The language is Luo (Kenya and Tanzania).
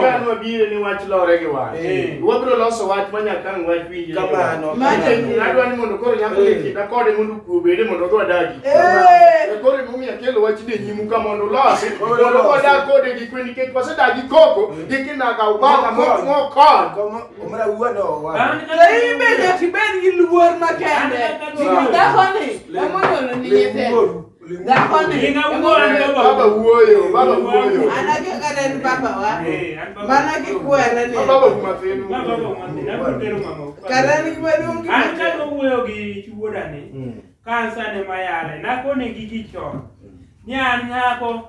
Kan wabire ni wach lore gi wach. Eh. Wabiro loso wach ma nyaka ang' wach winjre. Kamano. Adwa ni mondo koro nyako ni eh. kinda kode mondo kuo bede mondo odwa dagi. Eh. E koro emomiyo akelo wach ni nyimu ka mondo ulosi. Mondo odwa dag kode gi kwe nikech wasedagi koko gi kinaga ubaka mokon. Omra wuon owa. Ei bende kibed gi luor makende. Dhakoni emondo ni nyithindo. Baba wuoyo, baba wuoyo. Anake kata en baba wa. Eh, Mana kikwera ni. Baba umatenu. Baba umatenu. Nakutero mama. Kata ni maduong' gi. An ka wuoyo gi chuodani. Hmm. Kansa ne mayale. Nakone gigi chon. Ni an nyako